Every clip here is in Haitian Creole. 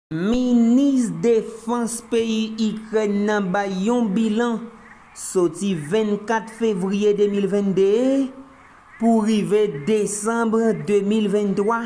Minis defans peyi Ikrèn nan bay yon bilan soti 24 fevriye 2022 pou rive desanm 2023.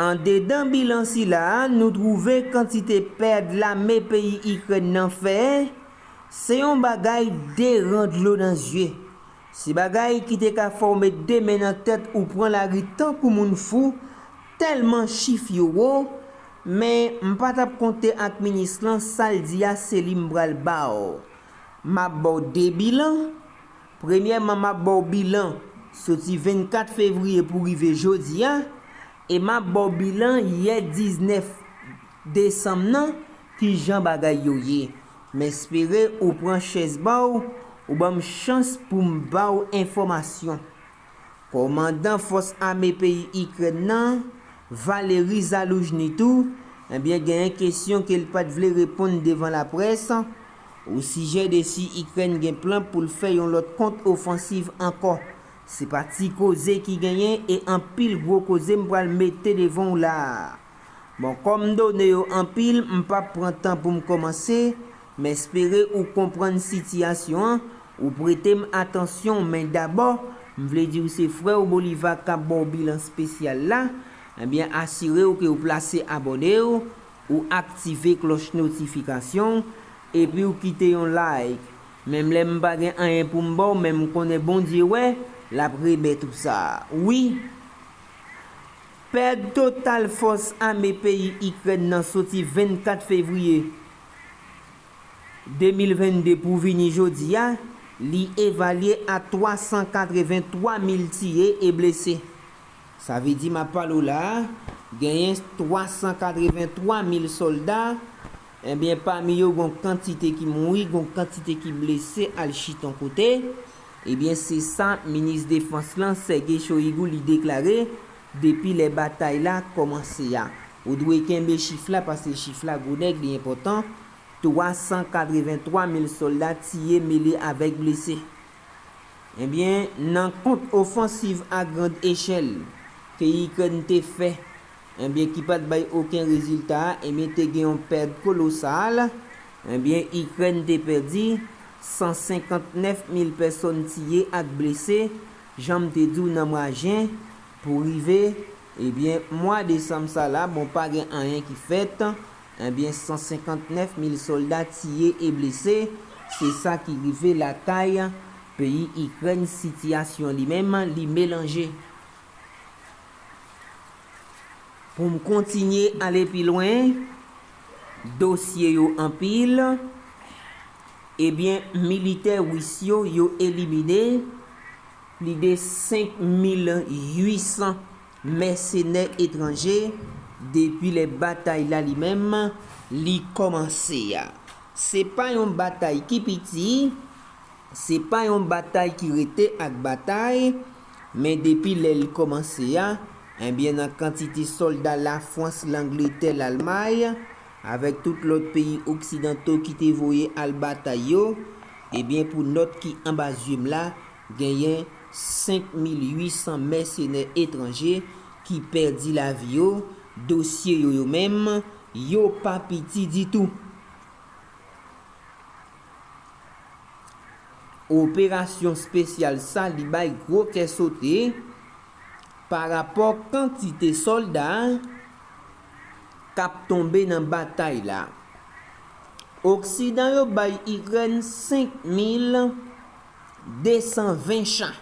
Andedan bilan sila a nou twouve kantite pèd lame peyi Ikrèn nan fè, se yon bagay deran dlo nan zye. Se bagay ki te ka fè w met 2 men nan tèt ou pran lari tankou moun fou, tèlman chif yo wo, men m pa t ap konte ak minis lan, sa l di a se li m pral ba w. M ap ba w 2 bilan, premyèman m ap ba w bilan soti 24 fevriye pou rive jodi a, e m ap ba w bilan yè 19 Desanm nan kijan bagay yo ye. M espere ou pran chèz ba w ou ban m chans pou m ba w enfòmasyon. Kòmandan fòs ame peyi Ikrèn nan, Valery Zaluzhny tou, ebyen genyen kesyon ke l pat vle reponn devan laprès, osijè de si Ikrèn gen plan pou l fè yon lòt kont ofansiv ankò. Se pa ti koze ki genyen e anpil gwo koze m pral mete devan w la a. Bon kòm done yo anpil m pap pran tan pou m kòmanse, m espere ou konprann sitiyasyon an, ou prete m atansyon w men dabò, m vle di w se frè w Bolivar kap ba w bilan spesyal la, ebyen asire w ke w plase abòne w, ou aktive klòch notifikasyon w, epi w kite yon like. Menm lè m pa gen anyen pou m ba w men m konnen Bondye wè, lap remèt ou sa. Wi! Pèd total fòs ame peyi Ikrèn nan soti 24 fevriye 2022 pou vini jodi a, li evalye a 383 mil tiye e blese. Sa vle di m ap pale w la a, genyen 383 mil sòlda Ebyen pami yo gon kantite ki mouri gon kantite ki blese al chita on kote, ebyen se sa minis defans lan Sergei Shoigu li deklare depi lè batay la kòmanse a. Ou dwe kenbe chif la pase chif la gwo nèg li enpòtan, 383 mil sòlda tiye mele avèk blese. Ebyen nan kont ofansiv a grand echèl ke Ikrèn te fè, Ebyen ki pat bay oken rezilta, ebyen te gen yon pèd kolosal. Ebyen Ikrèn te pèdi 159 mil pèsòn tiye ak blese, janm te di w nan mwa jen, pou rive, ebyen mwa desanm sa la, bon pa gen anyen ki fèt, ebyen 159 mil sòlda tiye e blese, se sa ki rive lakay peyi Ikrèn sitiyasyon li menm li melanje. Pou m kontinye ale pi lwen, dosye yo anpil, ebyen militè Ris yo, yo elimine plide 5,800 mèsenè etranje depi lè batay la li menm li kòmanse a. Se pa yon batay ki piti, se pa yon batay ki rete ak batay, Men depi lè l kòmanse a, enbyen nan kantite sòlda Lafwans, Langletè, Lalmay, avèk tout lòt peyi oksidanto ki te voye al batay yo, ebyen pou nòt ki anba zye m la, genyen 5800 mèsenè etranje ki pèdi lavi yo, dosye yo yo menm, yo pa piti ditou. Operasyon spesyal sa li bay gwo kè sote pa rapò kantite solda kap tonbe nan batay la. Oksidan yo bay Ikrèn 5220 cha,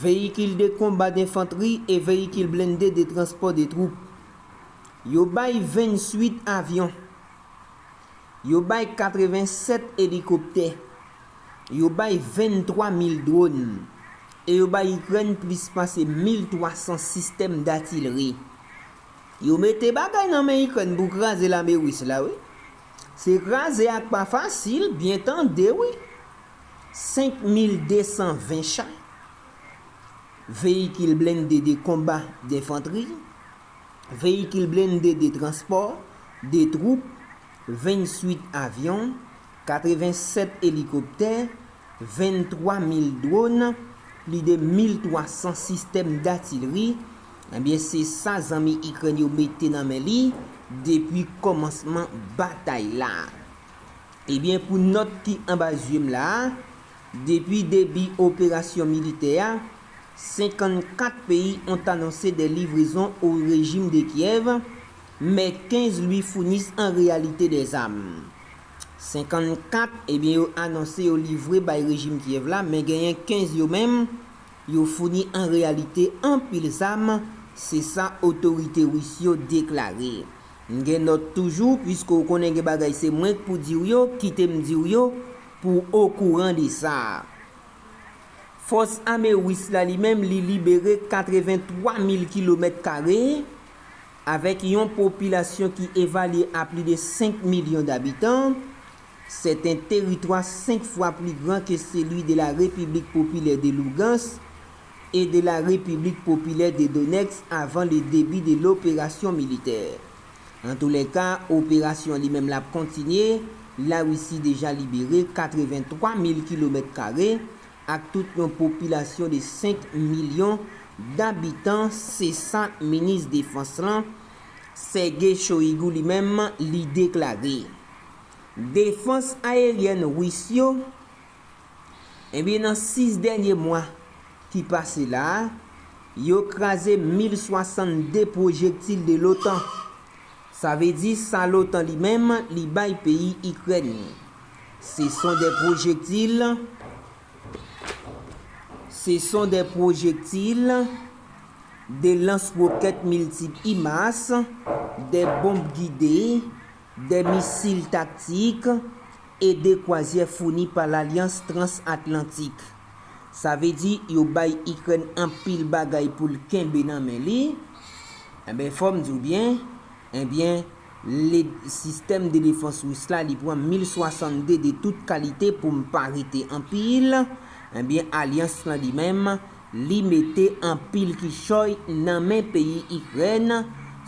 veyikil de konba denfantri e veyikil blende de transpò de twoup. Yo bay 28 avyon. Yo bay 87 elikoptè. Yo bay 23 mil dwòn. E yo bay Ikrèn plis pase 1,300 sistèm datilri. Yo mete bagay nan men Ikrèn pou kraze lame Ris la wi. Se kraze ak pa fasil, byen tande wi. 5220 cha, veyikil blende de konba, denfantri. veyikil blende de transpò, de twoup, 28 avyon, 87 elikoptè, 23 mil dwòn, pli de 1,300 sistèm datilri, ebyen se sa zanmi Ikrèn yo mete nan men li depi kòmansman batay la. Ebyen pou nòt ki anba zye m la a, Depi debi operasyon militè a, 54 peyi ont anonse dè livrezon o rejim de Kyèv, mè 15 lui founis an reyalite dè zam. 54, ebyen yo anonse yo livre bay rejim Kyèv la, men genyen 15 yo menm, yo founi an reyalite anpil zam, se sa otorite Ris yo deklare. M gen nòt toujou, pwiske w konnen gen bagay se mwenk pou di w yo, kite m di w yo, Pou w okouran de sa, Fòs Ame Ris la li menm li libere 83 mil kilomèt kare avèk yon popilasyon ki evalye a pli de 5 milyon dabitan, sèten teritwa 5 fwa pli gran ke seli de la Repiblik Popilè de Lougans e de la Repiblik Popilè de Donetsk avan le debi de loperasyon militè. Antoulèka, operasyon li menm la ap kontinye, Larisi deja libere 83 mil kilomèt kare ak tout yon popilasyon de 5 milyon dabitan, se sa minis defans lan, Sergei Shoigu li menm li deklare. Defans ayeryèn Ris yo. Ebyen nan 6 dènye mwa ki pase la a, yo kraze 1062 pwojektil de l'OTAN. Sa vle di sa l'OTAN li menm li bay peyi Ikrèn. Se son de pwojektil se son de pwojektil de lans wokèt miltip HIMARS, de bonb gide, 2 misil taktik e 2 kwazyè founi pa Lalyans Trans-Atlantik. Sa vle di yo bay Ikrèn anpil bagay pou l kenbe nan men li. Enben fò m di w byen, enben le sistèm de defans Ris la li pran mil 62 de tout kalite pou m pa rete anpil, enben alyans lan li menm Li mete anpil kichòy nan men peyi Ikrèn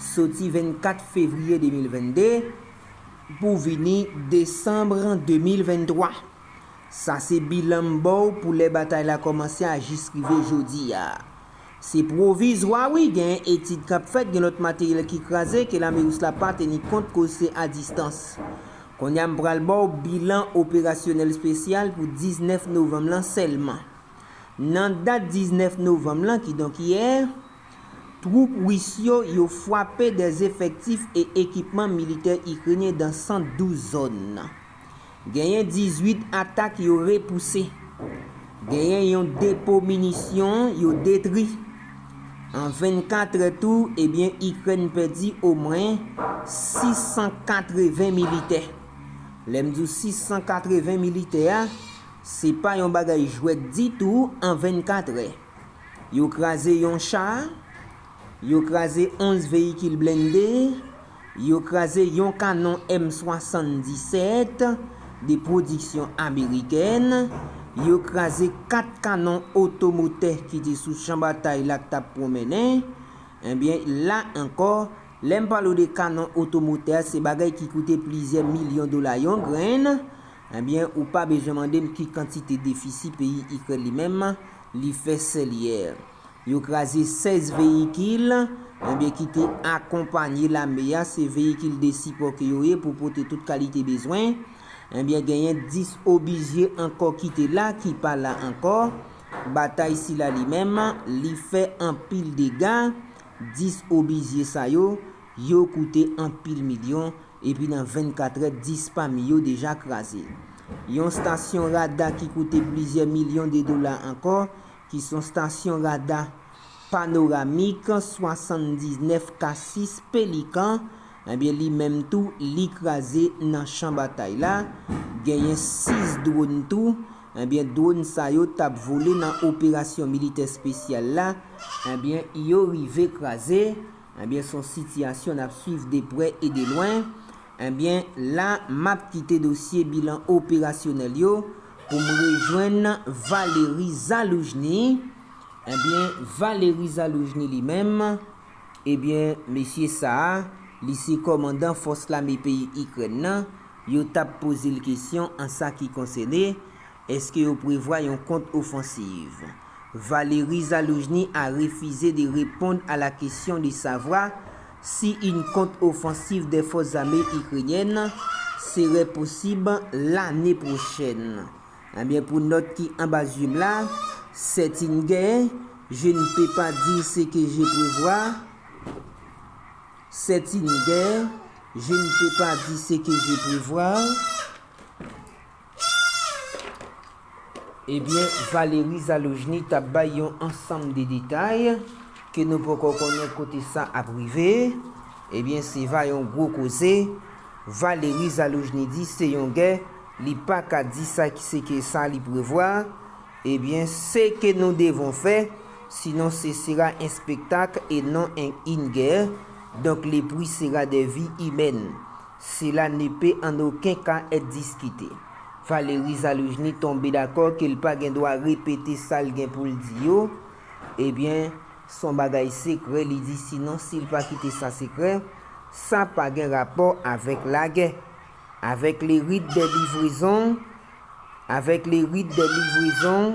soti 24 fevriye 2022 pou vini desanm 2023. Sa se bilan m ba w pou lè batay la kòmanse a jis rive jodi a. Se pwovizwa wi gen etid k ap fèt gen lòt materyèl ki kraze ke lame ris la pa teni kont koz se a distans. Kounye a m pral ba w bilan operasyonèl spesyal pou 19 novanm lan sèlman. Nan dat 19 novanm lan, kidonk yè, twoup Ris yo yo fwape dè efektif e ekipman militè Ikrenyen dan 112 zòn. Genyen 18 atak yo repouse. Genyen yon depo minisyon yo detri. An 24 è tou, ebyen Ikrèn pèdi omwen 680 militè. Lè m di w 680 militè a, Se pa yon bagay jwèt ditou an 24 è. Yo kraze yon cha, yo kraze 11 veyikil blende, yo kraze yon kanon M 77 de pwodiksyon amerikèn, yo kraze 4 kanon otomotè ki te sou chan batay la k t ap pwonmennen. Ebyen, la ankò, lè m pale w de kanon otomotè, se bagay ki koute plizyè milyon dola yon grenn, Ebyen ou pa bezwen mande m ki kantite defisi peyi Ikrèn li menm li fè sèlye. Yo kraze 16 veyikil ebyen ki te akonpanye lame a se veyikil de sipò ke yo ye pou pote tout kalite bezwen. Ebyen genyen 10 obizye ankò ki te la ki pa la ankò. Batay sila li menm li fè anpil dega. 10 obizye sa yo Yo koute anpil milyon, epi nan 24 è 10 pami yo deja kraze. Yon stasyon rada ki koute plizyè milyon de dola ankò, ki son stasyon rada panoramik 79 Cassis Pelican, ebyen li menm tou li kraze nan chan batay la, genyen 6 dwòn tou, ebyen dwòn sa yo t ap vole nan operasyon militè spesyal la, ebyen yo rive kraze, Ebyen son sitiyasyon nap swiv de prè e de lwen, ebyen la map kite dosye bilan operasyonèl yo poum rejwenn Valery Zaloujny, ebyen Valery Zaloujny li menm, ebyen mesye sa a li se kòmandan fòs lame peyi Ikrèn nan, yo tap pozel kesyon an sa ki konsène Eske yo prevwa yon kont-ofansiv? Valery Zaluzhny a refize de repond a la kesyon de savwa si yn kont-ofansiv dè fòs zame ikrenyèn serè posib lane pwochèn. Ebyen pou nòt ki anba zye m la, sèt yn gè je n pe pa di se ke je prevwa, sèt yn gè je n pe pa di se ke je prevwa, Ebyen Valery Zalojny t ap bay yon ansanm de detay ke nou poko konnen kote sa ap rive, ebyen se va yon gwo koze, Valery Zalojny di se yon gè li pa ka di sa ki se ke sa li prevwa, ebyen se ke nou devon fè, sinon se sera en spektak e non en in gè, donk le pri sera de vi imèn. Sela ne pe an oken ka èt diskite. Valery Zaluzhny tonbe dakò ke l pa gen dwa repete sa l gen pou l di yo, ebyen, s on bagay sekrè li di sinon si l pa kite sa sekrè, sa pa gen rapò avèk lagè. Avèk le rit dè livrezon, avèk le rit dè livrezon.